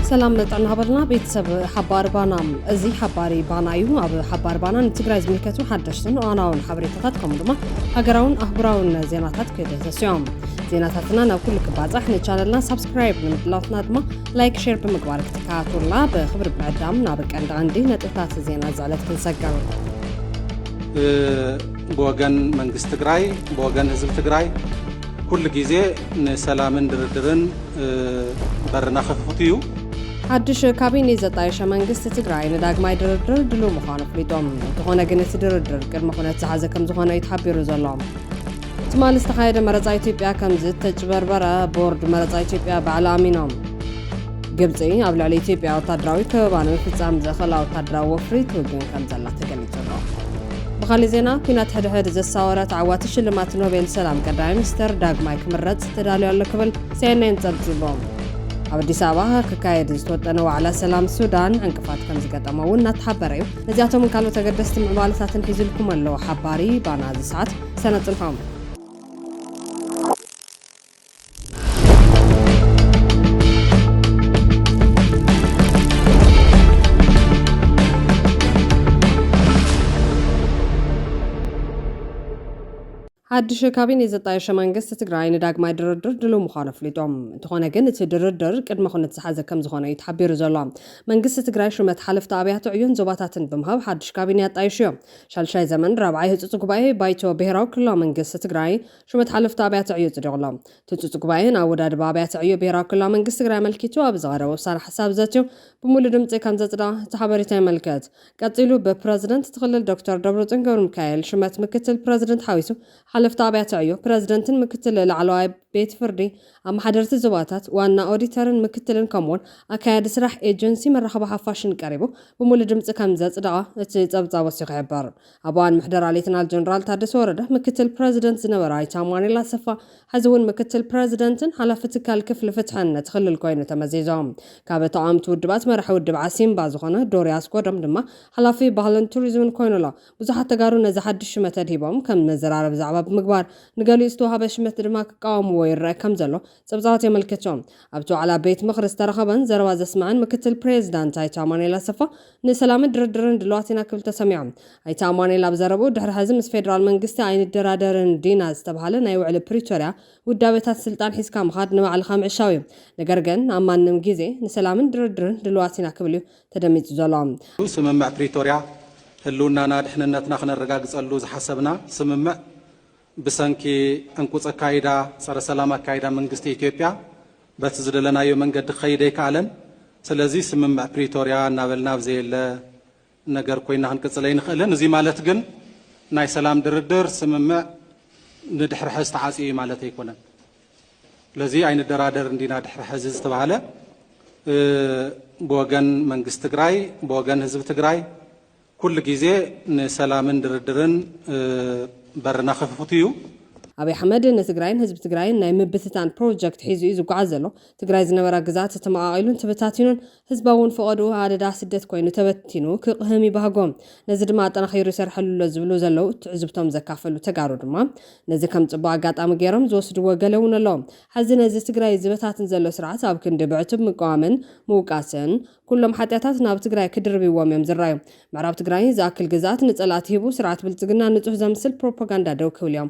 ሰላም መጠን ሃበልና ቤተሰብ ሓባር ባና እዚ ሓባሪ ባና እዩ ኣብ ሓባር ባና ንትግራይ ዝምልከቱ ሓደሽትን እዋናውን ሓበሬታታት ከምኡ ድማ ሃገራውን ኣህጉራውን ዜናታት ክደሰስዮም ዜናታትና ናብ ኩሉ ክባፃሕ ንቻነልና ሳብስክራይብ ንምድላትና ድማ ላይክ ሼር ብምግባር ክትከታተሉና ብክብሪ ምዕዳም ናብ ቀንዲ ቀንዲ ነጥብታት ዜና ዝዕለት ክንሰገር ብወገን መንግስቲ ትግራይ ብወገን ህዝቢ ትግራይ ኩሉ ግዜ ንሰላምን ድርድርን በርና ክፍት እዩ ሓድሽ ካቢኔ ዘጣየሸ መንግስቲ ትግራይ ንዳግማይ ድርድር ድልው ምዃኑ ኣፍሊጦም እንተኾነ ግን እቲ ድርድር ቅድሚ ኩነት ዝሓዘ ከም ዝኾነ እዩ ተሓቢሩ ዘሎ ትማሊ ዝተኻየደ መረፃ ኢትዮጵያ ከም ዝተጭበርበረ ቦርድ መረፃ ኢትዮጵያ ባዕሉ ኣሚኖም። ግብፂ ኣብ ልዕሊ ኢትዮጵያ ወታደራዊ ከበባ ንምፍፃም ዘኽእላ ወታደራዊ ወፍሪ ትውግን ከም ዘላ ተገሊፁ ኣሎ። ብኻሊእ ዜና ኩናት ሕድሕድ ዘሳወረ ተዓዋቲ ሽልማት ኖቤል ሰላም ቀዳማይ ሚኒስተር ዳግማይ ክምረፅ ተዳልዩ ኣሎ ክብል ሲኤንኤን ፀብፂቦም። ኣብ ኣዲስ ኣበባ ክካየድ ዝተወጠነ ዋዕላ ሰላም ሱዳን ዕንቅፋት ከም ዝገጠመ እውን እናተሓበረ እዩ። ነዚኣቶምን ካልኦት ኣገደስቲ ምዕባለታትን ሒዙልኩም ኣሎ ሓባሪ ባና እዚ ሰዓት ሰነ ጽንሖም። ሓድሽ ካቢኔ ዘጣየሸ መንግስቲ ትግራይ ንዳግማይ ድርድር ድልው ምዃኑ ኣፍሊጦም እንተኾነ ግን እቲ ድርድር ቅድመ ኩነት ዝሓዘ ከም ዝኾነ እዩ ተሓቢሩ ዘሎ መንግስቲ ትግራይ ሽመት ሓለፍቲ ኣብያተ ዕዮን ዞባታትን ብምሃብ ሓድሽ ካቢኔ ኣጣይሹ እዮም ሻልሻይ ዘመን ራብዓይ ህፁፅ ጉባኤ ባይቶ ብሄራዊ ክልላዊ መንግስቲ ትግራይ ሹመት ሓለፍቲ ኣብያተ ዕዮ ፅዲቑ ኣሎ። እቲ ህፁፅ ጉባኤ ንኣወዳድባ ኣብያተ ዕዮ ብሄራዊ ክልላዊ መንግስቲ ትግራይ ኣመልኪቱ ኣብ ዝቐረበ ውሳነ ሓሳብ ዘትዩ ብሙሉእ ድምፂ ከምዘፅደቐ እቲ ሓበሬታ የመልክት። ቀፂሉ ብፕረዚደንት እቲ ክልል ዶክተር ደብረፅዮን ገብረሚካኤል ሹመት ምክትል ፕረዚደንት ሓዊሱ ሓለፍቲ ኣብያተ ዕዮ ፕረዚደንትን ምክትል ላዕለዋይ ቤት ፍርዲ ኣመሓደርቲ ዞባታት፣ ዋና ኦዲተርን ምክትልን ከምኡ'ውን ኣካያዲ ስራሕ ኤጀንሲ መራኸቢ ሓፋሽን ቀሪቡ ብሙሉእ ድምፂ ከምዘፅደቐ እቲ ፀብፃብ ወሲኹ ይሕብር። ኣብ እዋን ምሕደራ ሌተናል ጀነራል ታደሰ ወረደ ምክትል ፕረዚደንት ዝነበረ ኣይተ ኣማኑኤል ኣሰፋ ሐዚ እውን ምክትል ፕረዚደንትን ሓላፊ ትካል ክፍሊ ፍትሕን ነቲ ክልል ኮይኑ ተመዚዞም ካብ ተቓወምቲ ውድባት መራሒ ውድብ ዓሲምባ ዝኾነ ዶሪ ኣስጎዶም ድማ ሓላፊ ባህልን ቱሪዝምን ኮይኑ ኣሎ። ብዙሓት ተጋሩ ነዚ ሓድሽ ሽመት ኣድሂቦም ከም መዘራረቢ ዛዕባ ብምግባር፣ ንገሊኡ ዝተዋህበ ሽመት ድማ ክቃወምዎ ይረኣ ከም ዘሎ ጸብጻባት የመልክቱ። ኣብቲ ዋዕላ ቤት ምኽሪ ዝተረኸበን ዘረባ ዘስመዐን ምክትል ፕሬዚዳንት ኣይተ ኣማኑኤል ኣሰፋ፣ ንሰላምን ድርድርን ድሉዋት ኢና ክብል ተሰሚዑ። ኣይተ ኣማኑኤል ኣብ ዘረብኡ፣ ድሕሪ ሕዚ ምስ ፌደራል መንግስቲ ኣይንደራደርን ዲና ዝተብሃለ ናይ ውዕሊ ፕሪቶሪያ ውዳበታት ስልጣን ሒዝካ ምኻድ ንባዕልኻ ምዕሻው እዩ። ነገር ግን ኣብ ማንም ጊዜ ንሰላምን ድርድርን ድሉዋት ኢና ክብል እዩ ተደሚጹ ዘሎ። ስምምዕ ፕሪቶርያ ህልውናና ድሕንነትና ክነረጋግፀሉ ዝሓሰብና ስምምዕ ብሰንኪ ዕንቁፅ ኣካይዳ ፀረ ሰላም ኣካይዳ መንግስቲ ኢትዮጵያ በቲ ዝደለናዮ መንገዲ ክኸይድ ኣይከኣለን። ስለዚ ስምምዕ ፕሪቶርያ እናበልና ኣብ ዘየለ ነገር ኮይና ክንቅፅል ኣይንኽእልን። እዙይ ማለት ግን ናይ ሰላም ድርድር ስምምዕ ንድሕሪ ሐዚ ተዓፅዩ እዩ ማለት ኣይኮነን። ስለዚ ኣይንደራደርን ዲና ድሕሪ ሐዚ ዝተባህለ ብወገን መንግስቲ ትግራይ ብወገን ህዝቢ ትግራይ ኩሉ ግዜ ንሰላምን ድርድርን በርና ክፉት እዩ። ኣብይ ኣሕመድ ንትግራይን ህዝቢ ትግራይን ናይ ምብትታን ፕሮጀክት ሒዙ እዩ ዝጓዓዝ ዘሎ። ትግራይ ዝነበራ ግዝኣት ተመቓቒሉን ተበታቲኑን ህዝባ'ውን ፈቐድኡ ኣደዳ ስደት ኮይኑ ተበቲኑ ክቕህም ይባህጎ። ነዚ ድማ ኣጠናኺሩ ይሰርሐሉ'ሎ ዝብሉ ዘለው ትዕዝብቶም ዘካፈሉ ተጋሩ ድማ ነዚ ከም ፅቡቕ ኣጋጣሚ ገይሮም ዝወስድዎ ገለ'ውን ኣሎ። ሐዚ ነዚ ትግራይ ዝበታትን ዘሎ ስርዓት ኣብ ክንዲ ብዕቱብ ምቅዋምን ምውቃስን ኩሎም ሓጥያታት ናብ ትግራይ ክድርብይዎም እዮም ዝራዩ። ምዕራብ ትግራይ ዝኣክል ግዝኣት ንፀላእቲ ሂቡ ስርዓት ብልፅግና ንፁህ ዘምስል ፕሮፓጋንዳ ደው ክብል'ዮም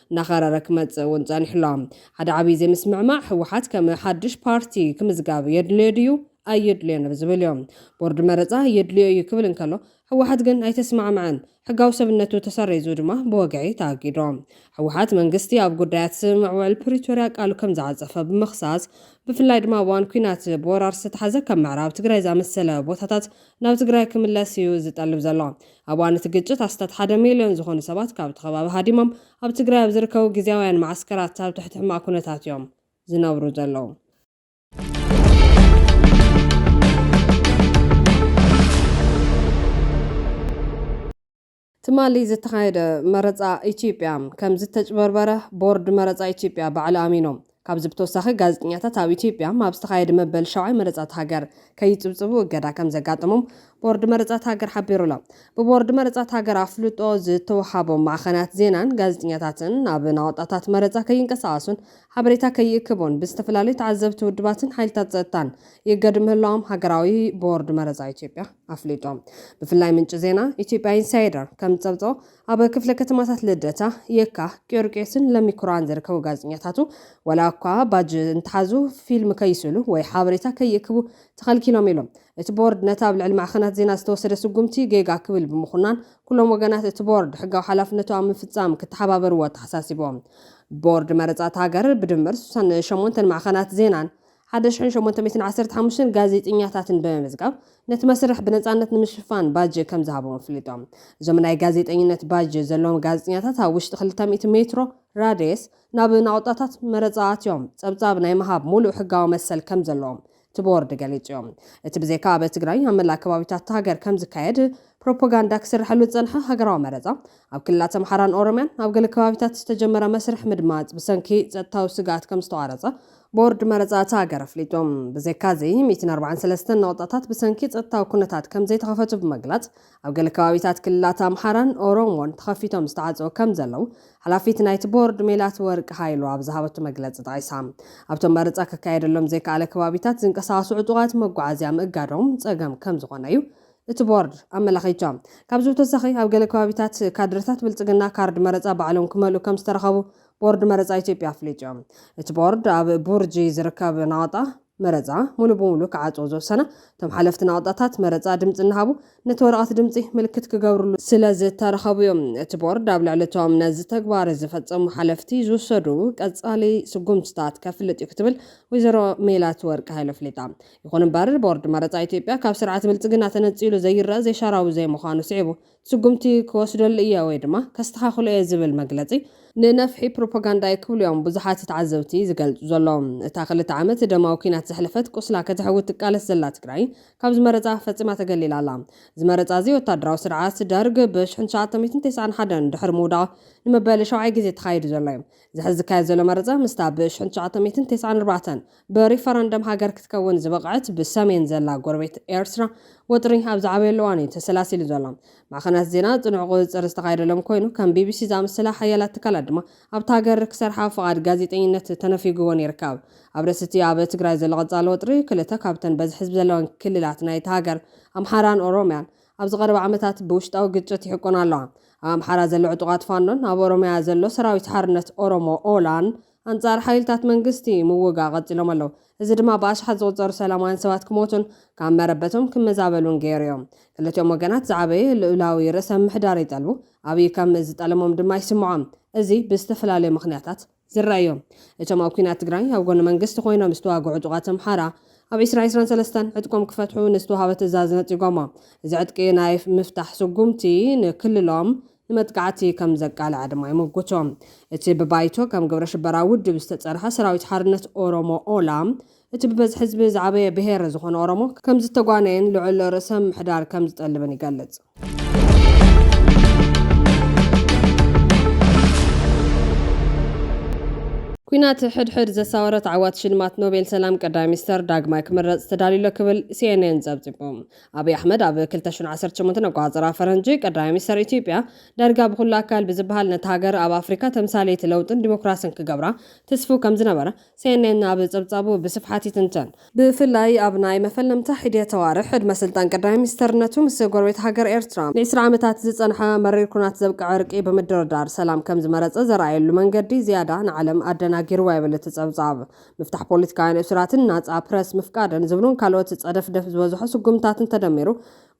እናኸረረ ክመፅእ እውን ፀኒሑ ኣሎ። ሓደ ዓብዪ ዘይምስምዕማዕ ህወሓት ከም ሓዱሽ ፓርቲ ክምዝጋብ የድልዮ ድዩ ኣየድልዮን ኣብ ዝብል እዩ። ቦርድ መረፃ የድልዮ እዩ ክብል እንከሎ ህወሓት ግን ኣይተስማዕመዐን። ሕጋዊ ሰብነቱ ተሰሪዙ ድማ ብወግዒ ተኣጊዱ። ህወሓት መንግስቲ ኣብ ጉዳያት ስምምዕ ውዕል ፕሪቶርያ ቃሉ ከምዝዓፀፈ ብምኽሳስ ብፍላይ ድማ ኣብ እዋን ኲናት ብወራር ዝተትሓዘ ከም ምዕራብ ትግራይ ዝኣመሰለ ቦታታት ናብ ትግራይ ክምለስ እዩ ዝጠልብ ዘሎ። ኣብ እዋን እቲ ግጭት ኣስታት ሓደ ሚልዮን ዝኾኑ ሰባት ካብቲ ከባቢ ሃዲሞም ኣብ ትግራይ ኣብ ዝርከቡ ግዝያውያን መዓስከራት ኣብ ትሕቲ ሕማቕ ኩነታት እዮም ዝነብሩ ዘለዉ። ትማሊ ዝተኻየደ መረፃ ኢትዮጵያ ከምዝተጭበርበረ ቦርድ መረፃ ኢትዮጵያ ባዕሉ ኣሚኑ። ካብዚ ብተወሳኺ ጋዜጠኛታት ኣብ ኢትዮጵያ ኣብ ዝተኻየደ መበል ሻውዓይ መረፃት ሃገር ከይፅብፅቡ እገዳ ከምዘጋጠሞም ቦርድ መረፃት ሃገር ሓቢሩ ኣሎ። ብቦርድ መረፃት ሃገር ኣፍልጦ ዝተውሃቦም ማዕኸናት ዜናን ጋዜጠኛታትን ናብ ናቑጣታት መረፃ ከይንቀሳቐሱን ሓበሬታ ከይእክቡን ብዝተፈላለዩ ተዓዘብቲ ውድባትን ሓይልታት ፀጥታን ይእገዱ ምህላዎም ሃገራዊ ቦርድ መረፃ ኢትዮጵያ ኣፍሊጡ። ብፍላይ ምንጪ ዜና ኢትዮጵያ ኢንሳይደር ከምዝፀብፀቦ ኣብ ክፍለ ከተማታት ልደታ፣ የካ፣ ቂዮርቄስን ለሚኩራን ዝርከቡ ጋዜጠኛታቱ ዋላ እኳ ባጅ እንተሓዙ ፊልም ከይስእሉ ወይ ሓበሬታ ከይእክቡ ተኸልኪሎም ኢሎም። እቲ ቦርድ ነቲ ኣብ ልዕሊ ማዕኸናት ዜና ዝተወሰደ ስጉምቲ ጌጋ ክብል ብምኹናን ኩሎም ወገናት እቲ ቦርድ ሕጋዊ ሓላፍነቱ ኣብ ምፍፃም ክተሓባበርዎ ኣተሓሳሲቦም። ቦርድ መረፃ እታ ሃገር ብድምር ስሳን ሸሞንተን ማዕኸናት ዜናን ሓደ ሽሕን ሸሞንተ ሚእትን ዓሰርተ ሓሙሽተን ጋዜጠኛታትን ብምምዝጋብ ነቲ መስርሕ ብነፃነት ንምሽፋን ባጅ ከምዝሃቦም ኣፍሊጦም። እዞም ናይ ጋዜጠኝነት ባጅ ዘለዎም ጋዜጠኛታት ኣብ ውሽጢ ክልተ ሚእቲ ሜትሮ ራድየስ ናብ ናቑጣታት መረፃ ኣትዮም ፀብፃብ ናይ ምሃብ ሙሉእ ሕጋዊ መሰል ከምዘለዎም እቲ ቦርድ ገሊፁ እዩ። እቲ ብዘይካ ኣብ ትግራይ ኣብ መላእ ከባቢታት እታ ሃገር ከምዝካየድ ፕሮፖጋንዳ ክስርሐሉ ዝፀንሐ ሃገራዊ መረፃ ኣብ ክልላት ኣምሓራን ኦሮምያን ኣብ ገለ ከባቢታት ዝተጀመረ መስርሕ ምድማፅ ብሰንኪ ፀጥታዊ ስግኣት ከምዝተቋረፀ ቦርድ መረፃ እታ ሃገር ኣፍሊጡ። ብዘይካ እዚ ሚእትን ኣርባዓን ሰለስተን ነቑጣታት ብሰንኪ ፀጥታዊ ኩነታት ከምዘይተኸፈቱ ብምግላፅ ኣብ ገለ ከባቢታት ክልላት ኣምሓራን ኦሮሞን ተኸፊቶም ዝተዓፀዉ ከምዘለዉ ሓላፊት ናይቲ ቦርድ ሜላትወርቅ ሃይሉ ኣብ ዝሃበቶ መግለፂ ጠቒሳ። ኣብቶም መረፃ ክካየደሎም ዘይከኣለ ከባቢታት ዝንቀሳቐሱ ዕጡቓት መጓዓዝያ ምእጋዶም ፀገም ከምዝኾነ እዩ እቲ ቦርድ ኣመላኺቱ። ካብዚ ብተወሳኺ ኣብ ገለ ከባቢታት ካድረታት ብልፅግና ካርድ መረፃ ባዕሎም ክመልኡ ከምዝተረኸቡ ቦርድ መረፃ ኢትዮጵያ ኣፍሊጡ። እቲ ቦርድ ኣብ ቡርጂ ዝርከብ ናቕጣ መረፃ ሙሉ ብሙሉ ክዓፅዎ ዝወሰነ እቶም ሓለፍቲ ናቕጣታት መረፃ ድምፂ እናሃቡ ነቲ ወረቐት ድምፂ ምልክት ክገብርሉ ስለዝተረኸቡ እዩ። እቲ ቦርድ ኣብ ልዕሊ እቶም ነዚ ተግባር ዝፈፀሙ ሓለፍቲ ዝውሰዱ ቀፃሊ ስጉምትታት ከፍልጥ እዩ ክትብል ወይዘሮ ሜላትወርቅ ሃይሉ ኣፍሊጣ። ይኹን እምበር ቦርድ መረፃ ኢትዮጵያ ካብ ስርዓት ብልፅግና ተነፂሉ ዘይረእ ዘይሻራዊ ዘይምዃኑ ስዒቡ ስጉምቲ ክወስደሉ እየ ወይ ድማ ከስተኻኽሎ እየ ዝብል መግለፂ ንነፍሒ ፕሮፓጋንዳ እዩ ክብሉ እዮም ብዙሓት ተዓዘብቲ ዝገልፁ ዘለዉ። እታ ክልተ ዓመት ደማዊ ኲናት ዘሕለፈት ቁስላ ከተሕውት ትቃለስ ዘላ ትግራይ ካብዚ መረፃ ፈፂማ ተገሊላ ኣላ። እዚ መረፃ እዚ ወታደራዊ ስርዓት ደርግ ብ ሽሕን ትሽዓተ ሚእትን ተስዓን ሓደን ድሕሪ ምውዳቑ ንመበሊ ሻውዓይ ግዜ ተኻይዱ ዘሎ እዩ። እዚ ሕዚ ዝካየድ ዘሎ መረፃ ምስታ ብ ሽሕን ትሽዓተ ሚእትን ተስዓን ኣርባዕተን ብሪፈረንደም ሃገር ክትከውን ዝበቕዐት ብሰሜን ዘላ ጎረቤት ኤርትራ ወጥሪ ኣብ ዝዓበየሉ እዋን እዩ ተሰላሲሉ ዘሎ። ማዕኸናት ዜና ጽኑዕ ቁጽጽር ዝተኻየደሎም ኮይኑ፣ ከም ቢቢሲ ዝኣመሰላ ሓያላት ትካላት ድማ ኣብታ ሃገር ክሰርሓ ፍቓድ ጋዜጠኝነት ተነፊጉወን ይርከብ። ኣብ ርእሲ'ቲ ኣብ ትግራይ ዘሎ ቀጻሊ ወጥሪ፣ ክልተ ካብተን በዝሒ ህዝቢ ዘለወን ክልላት ናይታ ሃገር፣ ኣምሓራን ኦሮምያን፣ ኣብዚ ቀረባ ዓመታት ብውሽጣዊ ግጭት ይሕቆና ኣለዋ። ኣብ ኣምሓራ ዘሎ ዕጡቓት ፋኖን ኣብ ኦሮምያ ዘሎ ሰራዊት ሓርነት ኦሮሞ፣ ኦላን፣ ኣንጻር ሓይልታት መንግስቲ ምውጋእ ቀጺሎም ኣለዉ። እዚ ድማ ብኣሽሓት ዝቑጸሩ ሰላማውያን ሰባት ክሞቱን ካብ መረበቶም ክመዛበሉን ገይሩዮ። ክልቲኦም ወገናት ዝዓበየ ልኡላዊ ርእሰ ምምሕዳር ይጠልቡ፣ ኣብይ ከም ዝጠለሞም ድማ ይስምዖ። እዚ ብዝተፈላለዩ ምኽንያታት ዝረኣዮ። እቶም ኣብ ኲናት ትግራይ ኣብ ጎኒ መንግስቲ ኮይኖም ዝተዋግዑ ዕጡቓት ኣምሓራ፣ ኣብ ዕስራ ዕስራን ሰለስተን ዕጥቆም ክፈትሑ ንዝተዋህበ ትእዛዝ ነጺጎሞ። እዚ ዕጥቂ ናይ ምፍታሕ ስጉምቲ ንክልሎም ንመጥቃዕቲ ከም ዘቃልዐ ድማ ይምጉቶ። እቲ ብባይቶ ከም ግብረሽበራ ውድብ ዝተጸርሐ ሰራዊት ሓርነት ኦሮሞ፣ ኦላ፣ እቲ ብበዝሒ ህዝቢ ዝዓበየ ብሄር ዝኾነ ኦሮሞ ከም ዝተጓነየን ልዑል ርእሰ ምሕዳር ከም ዝጠልብን ይገልጽ። ኲናት ሕድሕድ ዘሳወረት ዓዋት ሽልማት ኖቤል ሰላም ቀዳማይ ሚኒስተር ዳግማይ ክምረጽ ተዳልዩ'ሎ ክብል ሲኤንኤን ጸብጺቡ። ኣብይ ኣሕመድ ኣብ ክልተ ሽሕን ዓሰርተ ሸሞንተን ኣቆፃፅራ ፈረንጂ ቀዳማይ ሚኒስተር ኢትዮጵያ፣ ዳርጋ ብኹሉ ኣካል ብዝበሃል ነታ ሃገር ኣብ ኣፍሪካ ተምሳሌት ለውጥን ዲሞክራስን ክገብራ ትስፉው ከምዝነበረ CNN ኣብ ፀብፃቡ ብስፍሓት ይትንትን። ብፍላይ ኣብ ናይ መፈለምታ ሒዴት ኣዋርሕ ዕድመ ስልጣን ቀዳማይ ሚኒስተርነቱ ምስ ጎረቤት ሃገር ኤርትራ ንዒስራ ዓመታት ዝፀንሐ መሪር ኩናት ዘብቅዐ ዕርቂ ብምድርዳር ሰላም ከምዝመረፀ ዘርኣየሉ መንገዲ ዝያዳ ንዓለም ኣደናጊርዋ ይብል እቲ ፀብፃብ። ምፍታሕ ፖለቲካውያን እሱራትን ናጻ ፕረስ ምፍቃድን ዝብሉን ካልኦት ጸደፍደፍ ዝበዝሖ ስጉምትታትን ተደሚሩ፣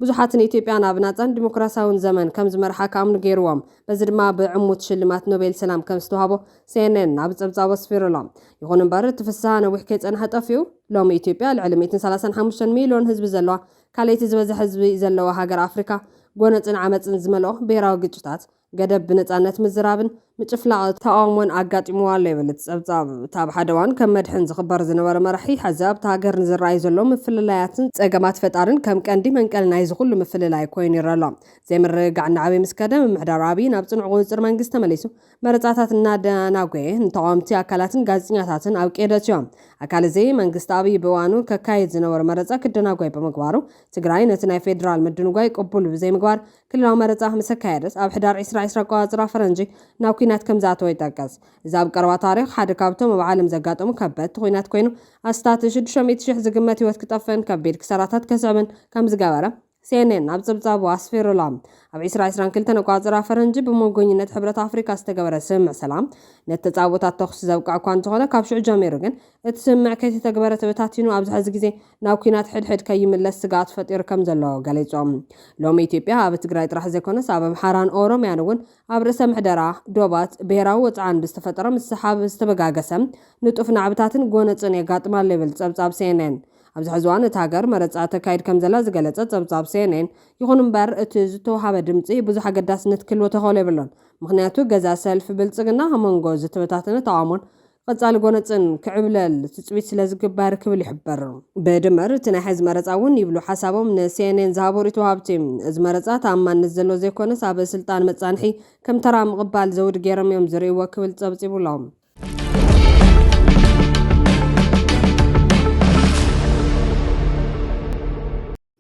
ብዙሓት ንኢትዮጵያ ናብ ናጻን ዲሞክራስያውን ዘመን ከም ዝመርሓ ክኣምኑ ገይሩዎም። በዚ ድማ ብዕሙት ሽልማት ኖቤል ሰላም ከም ዝተዋህቦ ሲኤንኤን ኣብ ጸብጻቡ ኣስፊሩ ኣሎ። ይኹን እምበር እቲ ፍስሃ ነዊሕ ከይጸንሐ ጠፊኡ። ሎሚ ኢትዮጵያ ልዕሊ ሚእትን ሰላሳን ሓሙሽተን ሚልዮን ህዝቢ ዘለዋ፣ ካልኣይቲ ዝበዝሐ ህዝቢ ዘለዋ ሃገር ኣፍሪካ፣ ጎነጽን ዓመጽን ዝመልኦ ብሄራዊ ግጭታት፣ ገደብ ብነጻነት ምዝራብን ምጭፍላቕ ተቓውሞን ኣጋጢምዋ ኣሎ ይብል እቲ ጸብጻብ። እቲ ኣብ ሓደ እዋን ከም መድሕን ዝኽበር ዝነበረ መራሒ፣ ሕዚ ኣብታ ሃገር ንዝረኣዩ ዘለዉ ምፍልላያትን ጸገማት ፈጣሪን ከም ቀንዲ መንቀሊ ናይዚ ኩሉ ምፍልላይ ኮይኑ ይረኣ ኣሎ። ዘይምርግጋዕ እናዓበየ ምስ ከደ፣ ምምሕዳር ኣብይ ናብ ጽኑዕ ቁጽጽር መንግስቲ ተመሊሱ መረጻታት እናደናጎየ ንተቓወምቲ ኣካላትን ጋዜጠኛታትን ኣብ ቀይዲ ኣእትዮ። ኣካል እዚ፣ መንግስቲ ኣብይ ብእዋኑ ከካይድ ዝነበሮ መረጻ ክደናጎይ ብምግባሩ፣ ትግራይ ነቲ ናይ ፌደራል ምድንጓይ ቅቡል ብዘይምግባር፣ ክልላዊ መረጻ ምስ ኣካየደስ ኣብ ሕዳር ዕስራ ዕስራ ኣቆጻጽራ ፈረንጂ ናብ ኲናት ከም ዝኣተወ ይጠቅስ። እዚ ኣብ ቀረባ ታሪኽ ሓደ ካብቶም ኣብ ዓለም ዘጋጠሙ ከበድቲ ኲናት ኮይኑ ኣስታት ሽዱሽተ ሚእቲ ሽሕ ዝግመት ህይወት ክጠፍእን ከቢድ ክሳራታት ከስዕብን ከም ዝገበረ CNN ኣብ ጽብጻቡ ኣስፊሩ ኣሎ። ኣብ ዕስራ ዕስራን ክልተን ኣቆጻጽራ ፈረንጂ ብመጎኝነት ሕብረት ኣፍሪቃ ዝተገበረ ስምምዕ ሰላም ነቲ ተጻብኦታት ተኹሲ ዘብቅዐ'ኳ እንተኾነ ካብ ሽዑ ጀሚሩ ግን እቲ ስምምዕ ከይተተግበረ ተበታቲኑ ኣብዚ ሕዚ ግዜ ናብ ኲናት ሕድሕድ ከይምለስ ስግኣት ፈጢሩ ከምዘሎ ገሊፆም። ሎሚ ኢትዮጵያ ኣብ ትግራይ ጥራሕ ዘይኮነስ ኣብ ኣምሓራን ኦሮምያን እውን ኣብ ርእሰ ምሕደራ፣ ዶባት፣ ብሄራዊ ወፅዓን ብዝተፈጠረ ምስሕሓብ ዝተበጋገሰ ንጡፍ ናዕብታትን ጎነፅን የጋጥማ ኣሎ ይብል ፀብፃብ ሲኤንኤን። ኣብዚ ሕዚ እዋን እታ ሃገር መረፃ ተካይድ ከምዘላ ዝገለፀ ፀብፃብ ሲኤንኤን ይኹን እምበር እቲ ዝተውሃበ ድምፂ ብዙሕ ኣገዳስነት ክህልዎ ተኸእሎ የብሉን ምኽንያቱ ገዛ ሰልፊ ብልፅግና ኣብ መንጎ ዝተበታተነ ተቓውሞን ቀጻሊ ጎነጽን ክዕብለል ትጽቢት ስለ ዝግበር ክብል ይሕብር። ብድምር እቲ ናይ ሐዚ መረጻ እውን ይብሉ ሓሳቦም ንሲኤንኤን ዝሃቡ ሪኢቶ ወሃብቲ፣ እዚ መረጻ ተኣማንነት ዘለዎ ዘይኮነስ ኣብ ስልጣን መጻንሒ ከም ተራ ምቕባል ዘውዲ ገይሮም እዮም ዝርእይዎ ክብል ጸብጺቡ ኣሎ።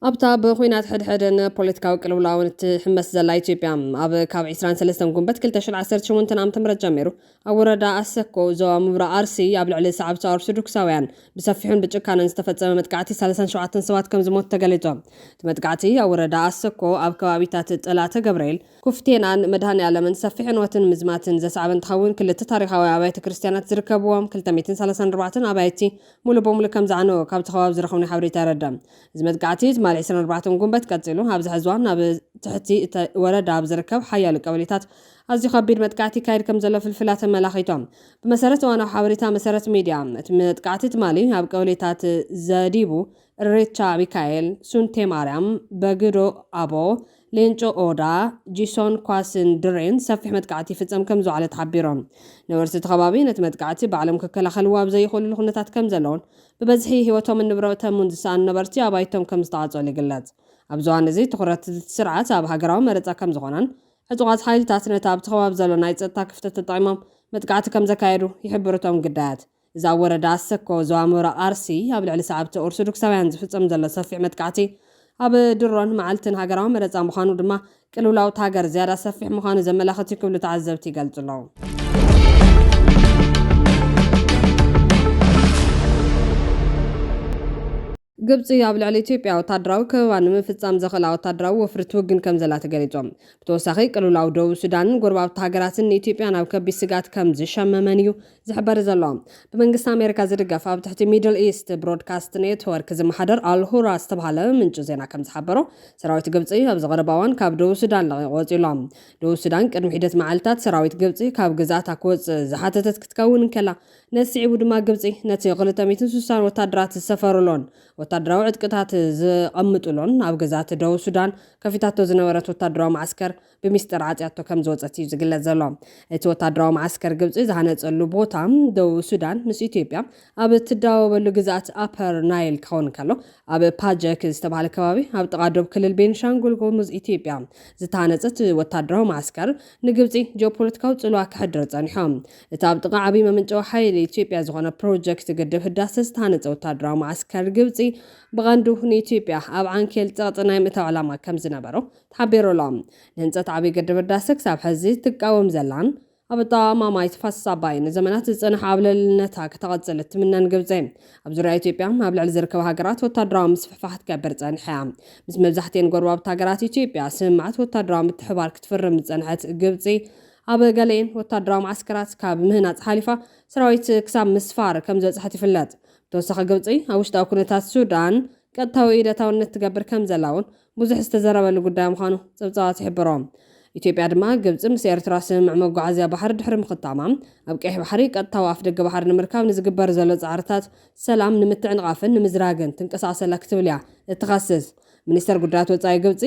ኣብታ ብኹናት ሕድሕድን ፖለቲካዊ ቅልውላውን እትሕመስ ዘላ ኢትዮጵያ፣ ኣብ ካብ ዕስራን ሰለስተን ጉንበት ክልተ ሽሕን ዓሰርተ ሸሞንተን ዓመተ ምህረት ጀሚሩ፣ ኣብ ወረዳ ኣሰኮ፣ ዞባ ምብራቕ ኣርሲ፣ ኣብ ልዕሊ ሰዓብቲ ኦርቶዶክሳውያን ብሰፊሑን ብጭካነን ዝተፈጸመ መጥቃዕቲ ሰላሳን ሸውዓተን ሰባት ከምዝሞቱ ተገሊጹ። እቲ መጥቃዕቲ፣ ኣብ ወረዳ ኣሰኮ፣ ኣብ ከባቢታት ጠላተ ገብርኤል፣ ኩፍቴናን መድሃኔኣለምን ሰፊሕ ዕንወትን ምዝማትን ዘስዓበ እንትኸውን፣ ክልተ ታሪኻዊ ኣብያተ ክርስትያናት ዝርከብዎም ክልተ ሚእትን ሰላሳን ኣርባዕተን ኣባይቲ ሙሉእ ብሙሉእ ከምዝዓነወ ካብቲ ከባቢ ዝረኸብናዮ ሓበሬታ የረድእ። እዚ መጥቃዕቲ ትማሊ ዕስራን ኣርባዕተን ጉንበት ቀጺሉ፣ ኣብዚ ሕዚ እዋን ኣብ ትሕቲ እቲ ወረዳ ኣብ ዝርከብ ሓያሎ ቀበሌታት ኣዝዩ ከቢድ መጥቃዕቲ ይካየድ ከምዘሎ ፍልፍላት ኣመላኺቶም። ብመሰረት እዋናዊ ሓበሬታ መሰረት ሚድያ፣ እቲ መጥቃዕቲ ትማሊ ኣብ ቀበሌታት ዘዲቡ፣ እሬቻ ሚካኤል፣ ሱንቴ ማርያም፣ በግዶ ኣቦ፣ ሌንጮ ኦዳ፣ ጂሶን ኳስን ድሬን ሰፊሕ መጥቃዕቲ ይፍጸም ከምዝውዓለ ተሓቢሩ። ነበርቲ እቲ ከባቢ ነቲ መጥቃዕቲ ባዕሎም ክከላኸልዎ ኣብ ዘይኽእሉሉ ኩነታት ከምዘለዉን ብበዝሒ ህይወቶምን ንብረቶምን ዝሰኣኑ ነበርቲ ኣባይቶም ከም ዝተዓፀሉ ይግለፅ። ኣብዚ እዋን እዚ ትኹረት እቲ ስርዓት ኣብ ሃገራዊ መረፃ ከም ዝኾነን ዕጡቓት ሓይልታት ነቲ ኣብቲ ከባቢ ዘሎ ናይ ፀጥታ ክፍተት ተጠቒሞም መጥቃዕቲ ከም ዘካየዱ ይሕብሩ እቶም ግዳያት። እዚ ኣብ ወረዳ ኣሰኮ፣ ዞባ ምብራቕ ኣርሲ ኣብ ልዕሊ ሰዓብቲ ኦርቶዶክሳውያን ዝፍፀም ዘሎ ሰፊሕ መጥቃዕቲ፣ ኣብ ድሮን መዓልትን ሃገራዊ መረጻ ምዃኑ ድማ ቅልውላው'ታ ሃገር ዝያዳ ሰፊሕ ምዃኑ ዘመላኽት እዩ ክብሉ ተዓዘብቲ ይገልጹ ኣለዉ። ግብጺ ኣብ ልዕሊ ኢትዮጵያ ወታደራዊ ከበባ ንምፍጻም ዘኽእላ ወታደራዊ ወፍሪ ትውግን ከም ዘላ ተገሊጹ። ብተወሳኺ ቅልውላው ደቡብ ሱዳንን ጎረባብቲ ሃገራትን ንኢትዮጵያ ናብ ከቢድ ስግኣት ከም ዝሸመመን እዩ ዝሕበር ዘሎ፣ ብመንግስቲ ኣሜሪካ ዝድገፍ ኣብ ትሕቲ ሚድል ኢስት ብሮድካስት ኔትወርክ ዝመሓደር ኣል ሁራ ዝተብሃለ ምንጪ ዜና ከምዝሓበሮ፣ ሰራዊት ግብጺ ኣብዚ ቀረባ እዋን ካብ ደቡብ ሱዳን ለቒቑ ወጺኡ ኣሎ። ደቡብ ሱዳን ቅድሚ ሒደት መዓልታት ሰራዊት ግብጺ ካብ ግዝኣታ ክወጽእ ዝሓተተት ክትከውን እንከላ፣ ነዚ ስዒቡ ድማ ግብጺ ነቲ ክልተ ሚእትን ስሳን ወታደራት ዝሰፈሩሉን ወታደራዊ ዕጥቅታት ዘቐምጡሉን ኣብ ግዝኣት ደቡብ ሱዳን ከፊታቶ ዝነበረት ወታደራዊ መዓስከር ብሚስጥር ዓጽያቶ ከም ዝወጸት እዩ ዝግለጽ ዘሎ። እቲ ወታደራዊ መዓስከር ግብጺ ዝሃነጸሉ ቦታ ደቡብ ሱዳን ምስ ኢትዮጵያ ኣብ እትዳወበሉ ግዝኣት ኣፐር ናይል ክኸውን እንከሎ፣ ኣብ ፓጀክ ዝተባህለ ከባቢ ኣብ ጥቓ ዶብ ክልል ቤንሻንጉል ጉሙዝ ኢትዮጵያ ዝተሃነጸ እቲ ወታደራዊ መዓስከር ንግብጺ ጂኦፖለቲካዊ ጽልዋ ከሕድር ጸኒሖ። እቲ ኣብ ጥቓ ዓብዪ መመንጨዊ ሓይሊ ኢትዮጵያ ዝኾነ ፕሮጀክት ግድብ ህዳሰ ዝተሃነጸ ወታደራዊ መዓስከር ግብጺ ብቐንዱ ንኢትዮጵያ ኣብ ዓንኬል ጸቕጢ ናይ ምእታው ዕላማ ከም ዝነበሮ ተሓቢሩ ኣሎ። ንህንፀት ዓብይ ግድብ ህዳሰ ክሳብ ሐዚ ትቃወም ዘላን ኣብ ኣጠቓቕማ ማይ ተፋሰስ ኣባይ ንዘመናት ዝፀንሐ ኣብ ልዕልነታ ክተቐፅል እትምነን ግብፂ ኣብ ዙርያ ኢትዮጵያ ኣብ ልዕሊ ዝርከባ ሃገራት ወታደራዊ ምስፍሕፋሕ ትገብር ፀኒሓ እያ። ምስ መብዛሕቲኤን ጎረባብቲ ሃገራት ኢትዮጵያ ስምምዓት ወታደራዊ ምትሕብባር ክትፍርም ዝፀንሐት ግብፂ ኣብ ገሊኤን ወታደራዊ መዓስከራት ካብ ምህናፅ ሓሊፋ ሰራዊት ክሳብ ምስፋር ከምዝበፅሐት ይፍለጥ። ብተወሳኺ ግብፂ ኣብ ውሽጣዊ ኩነታት ሱዳን ቀጥታዊ ኢድ ኣታውነት ትገብር ከምዘላ እውን ብዙሕ ዝተዘረበሉ ጉዳይ ምዃኑ ጸብጻባት ይሕብሩ። ኢትዮጵያ ድማ ግብጺ ምስ ኤርትራ ስምምዕ መጓዓዝያ ባሕሪ ድሕሪ ምኽታማ፣ ኣብ ቀይሕ ባሕሪ ቀጥታዊ ኣፍደገ ባሕሪ ንምርካብ ንዝግበር ዘሎ ጻዕርታት ሰላም ንምትዕንቓፍን ንምዝራግን ትንቀሳቐስ ኣላ ክትብል እያ እትኸስስ። ሚኒስተር ጉዳያት ወጻኢ ግብጺ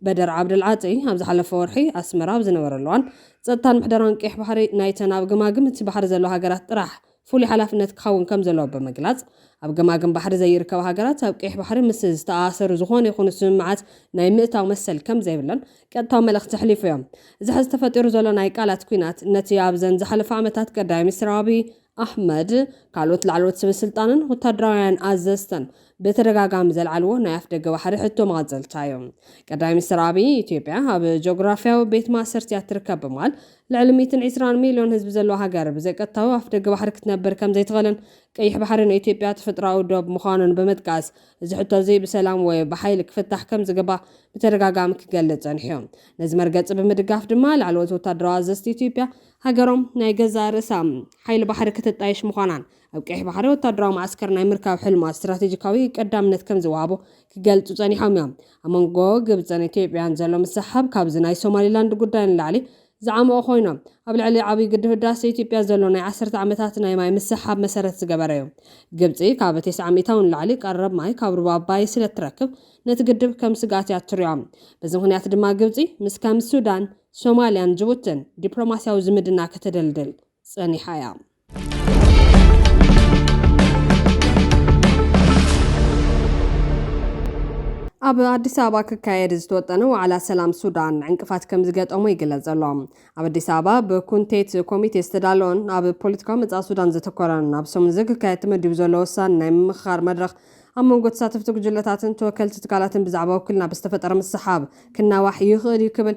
በደር ዓብደል ዓጢ ኣብ ዝሓለፈ ወርሒ ኣስመራ ኣብ ዝነበረሉ እዋን፣ ጸጥታን ምሕደራን ቀይሕ ባሕሪ ናይተን ኣብ ገማግም እቲ ባሕሪ ዘለዋ ሃገራት ጥራሕ ፍሉይ ሓላፍነት ክኸውን ከም ዘለዎ ብምግላጽ፣ ኣብ ገማግም ባሕሪ ዘይርከባ ሃገራት ኣብ ቀይሕ ባሕሪ ምስ ዝተኣኣሰሩ ዝኾነ ይኹኑ ስምምዓት ናይ ምእታው መሰል ከም ዘይብለን ቀጥታዊ መልእኽቲ ኣሕሊፉ እዮ። እዚ ሕዚ ተፈጢሩ ዘሎ ናይ ቃላት ኲናት ነቲ ኣብዘን ዝሓለፋ ዓመታት ቀዳማይ ሚኒስትር ኣብይ ኣሕመድ ካልኦት ላዕለዎት ሰበስልጣንን ወታደራውያን ኣዘዝተን ብተደጋጋሚ ዘልዓልዎ ናይ ኣፍደገ ባሕሪ ሕቶ መቐጸልታ እዩ። ቀዳማይ ሚኒስትር ኣብይ ኢትዮጵያ ኣብ ጂኦግራፍያዊ ቤት ማእሰርቲ'ያ እትርከብ ብምባል ልዕሊ ሚእትን ዒስራን ሚልዮን ህዝቢ ዘለዋ ሃገር ብዘይቀጥታዊ ኣፍደገ ባሕሪ ክትነብር ከምዘይትኽእልን ቀይሕ ባሕሪ ንኢትዮጵያ ተፈጥሮኣዊ ዶብ ምዃኑን ብምጥቃስ እዚ ሕቶ'ዚ ብሰላም ወይ ብሓይሊ ክፍታሕ ከምዝግባእ ብተደጋጋሚ ክገልጽ ጸኒሑ'ዩ። ነዚ መርገጺ ብምድጋፍ ድማ ላዕለዎት ወታደራዊ ኣዘዝቲ ኢትዮጵያ ሃገሮም ናይ ገዛእ ርእሳ ሓይሊ ባሕሪ ከተጣይሽ ምዃናን ኣብ ቀይሕ ባሕሪ ወታደራዊ መዓስከር ናይ ምርካብ ሕልማ ስትራቴጂካዊ ቀዳምነት ከምዝወሃቦ ክገልጹ ጸኒሖም እዮም። ኣብ መንጎ ግብጽን ኢትዮጵያን ዘሎ ምስሕሓብ ካብዚ ናይ ሶማሊላንድ ጉዳይ ንላዕሊ ዝዓሞቐ ኮይኑ፣ ኣብ ልዕሊ ዓብዪ ግድብ ህዳሰ ኢትዮጵያ ዘሎ ናይ ዓሰርተ ዓመታት ናይ ማይ ምስሕሓብ መሰረት ዝገበረ እዩ። ግብጺ ካብ ቴስዓ ሚእታዊ ንላዕሊ ቀረብ ማይ ካብ ሩባ ኣባይ ስለ እትረክብ ነቲ ግድብ ከም ስግኣት እያ እትሪኦ። በዚ ምኽንያት ድማ ግብጺ ምስ ከም ሱዳን፣ ሶማሊያን ጅቡትን ዲፕሎማሲያዊ ዝምድና ከተደልድል ጸኒሓ እያ። ኣብ ኣዲስ ኣበባ ክካየድ ዝተወጠነ ዋዕላ ሰላም ሱዳን ዕንቅፋት ከም ዝገጠሞ ይግለጽ ዘሎ። ኣብ ኣዲስ ኣበባ ብኩንቴት ኮሚቴ ዝተዳለወን ኣብ ፖለቲካዊ መጻኢ ሱዳን ዘተኮረን ኣብ ሰሙን እዚ ክካየድ ተመዲቡ ዘሎ ወሳኒ ናይ ምምኽኻር መድረኽ ኣብ መንጎ ተሳተፍቲ ጉጅለታትን ተወከልቲ ትካላትን ብዛዕባ ውክልና ብዝተፈጠረ ምስሓብ ክናዋሕ ይኽእል እዩ ክብል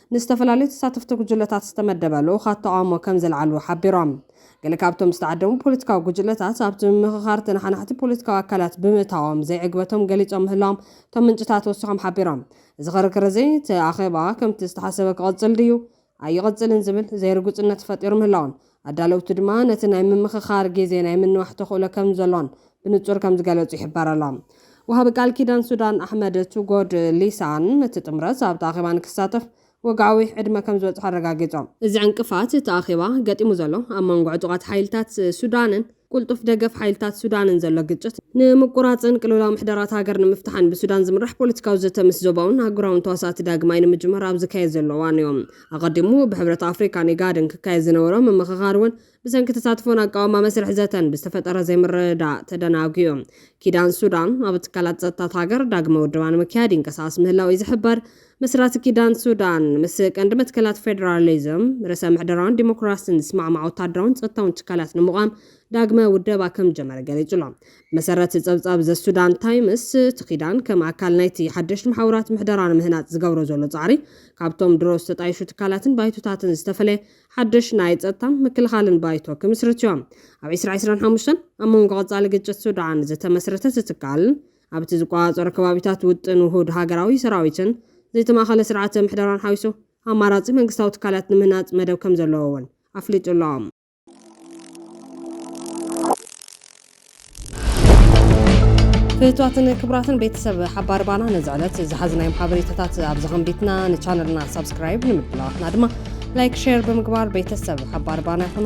ንዝተፈላለዩ ተሳተፍቲ ጉጅለታት ዝተመደበ ልኡኻት ተቓውሞ ከም ዘልዓሉ ሓቢሮም። ገለ ካብቶም ዝተዓደሙ ፖለቲካዊ ጉጅለታት ኣብቲ ምምኽኻር ተነሓናሕቲ ፖለቲካዊ ኣካላት ብምእታዎም ዘይዕግበቶም ገሊጾም ምህላዎም እቶም ምንጭታት ወሲኾም ሓቢሮም። እዚ ክርክር እዚ እቲ ኣኼባ ከምቲ ዝተሓሰበ ክቕጽል ድዩ ኣይቕጽልን ዝብል ዘይርጉጽነት ፈጢሩ ምህላዉን ኣዳለውቲ ድማ ነቲ ናይ ምምኽኻር ግዜ ናይ ምንዋሕ ተኽእሎ ከም ዘሎን ብንጹር ከም ዝገለጹ ይሕበር ኣሎ። ወሃቢ ቃል ኪዳን ሱዳን ኣሕመድ ቱጎድ ሊሳን፣ እቲ ጥምረት ኣብቲ ኣኼባ ንክሳተፍ ወግዓዊ ዕድመ ከም ዝበጽሖ ኣረጋጊጾም። እዚ ዕንቅፋት እቲ ኣኼባ ገጢሙ ዘሎ፣ ኣብ መንጎ ዕጡቓት ሓይልታት ሱዳንን፣ ቁልጡፍ ደገፍ ሓይልታት ሱዳንን ዘሎ ግጭት ንምቁራጽን ቅልውላው ምሕደራ'ታ ሃገር ንምፍታሕን ብሱዳን ዝምራሕ ፖለቲካዊ ዘተ ምስ ዞባውን ኣህጉራውን ተዋሳእቲ ዳግማይ ንምጅማር ኣብ ዝካየድ ዘሎ እዋን'ዩ። ኣቐዲሙ ብሕብረት ኣፍሪቃን ኢጋድን ክካየድ ዝነበሮ ምምኽኻር'ውን ብሰንኪ ተሳትፎን ኣቃውማ መስርሕ ዘተን ብዝተፈጠረ ዘይምርድዳእ ተደናጒዩ። ኪዳን ሱዳን ኣብ ትካላት ጸጥታ'ታ ሃገር ዳግመ ውደባ ንምክያድ ይንቀሳቐስ ምህላዉ'ዩ ዝሕበር። መስራቲ ኪዳን ሱዳን፣ ምስ ቀንዲ መትከላት ፌደራሊዝም፣ ርእሰ ምሕደራን ዲሞክራሲን ዝስማዕማዕ ወተሃደራውን ጸጥታውን ትካላት ንምቛም ዳግመ ውደባ ከም ዝጀመረ ገሊጹ ኣሎ። ብመሰረት ጸብጻብ ዘ ሱዳን ታይምስ፣ እቲ ኪዳን ከም ኣካል ናይቲ ሓደሽቲ መሓውራት ምሕደራ ንምህናጽ ዝገብሮ ዘሎ ጻዕሪ፣ ካብቶም ድሮ ዝተጣየሹ ትካላትን ባይቶታትን ዝተፈለየ ሓደሽ ናይ ጸጥታን ምክልኻልን ባይቶ ክምስርትዮ። ኣብ ዕስራ ዕስራን ሓሙሽተን ኣብ መንጎ ቀጻሊ ግጭት ሱዳን ዝተመስረተ እቲ ትካል፣ ኣብ'ቲ ዝቆጻጸሮ ከባቢታት ውጥን ውሁድ ሃገራዊ ሰራዊትን ዘይተማእኸለ ስርዓተ ምሕደራን ሓዊሱ ኣማራጺ መንግስታዊ ትካላት ንምህናጽ መደብ ከምዘለዎ'ውን ኣፍሊጡ'ሎ። ፍትዋትን ክብራትን ቤተሰብ ሓባር ባና ነዚ ዕለት ዝሓዝናዮም ሓበሬታታት ኣብዚ ከምቢትና ንቻነልና ሳብስክራይብ ንምድላዋትና ድማ ላይክ ሼር ብምግባር ቤተሰብ ሓባር ባና ይኹኑ።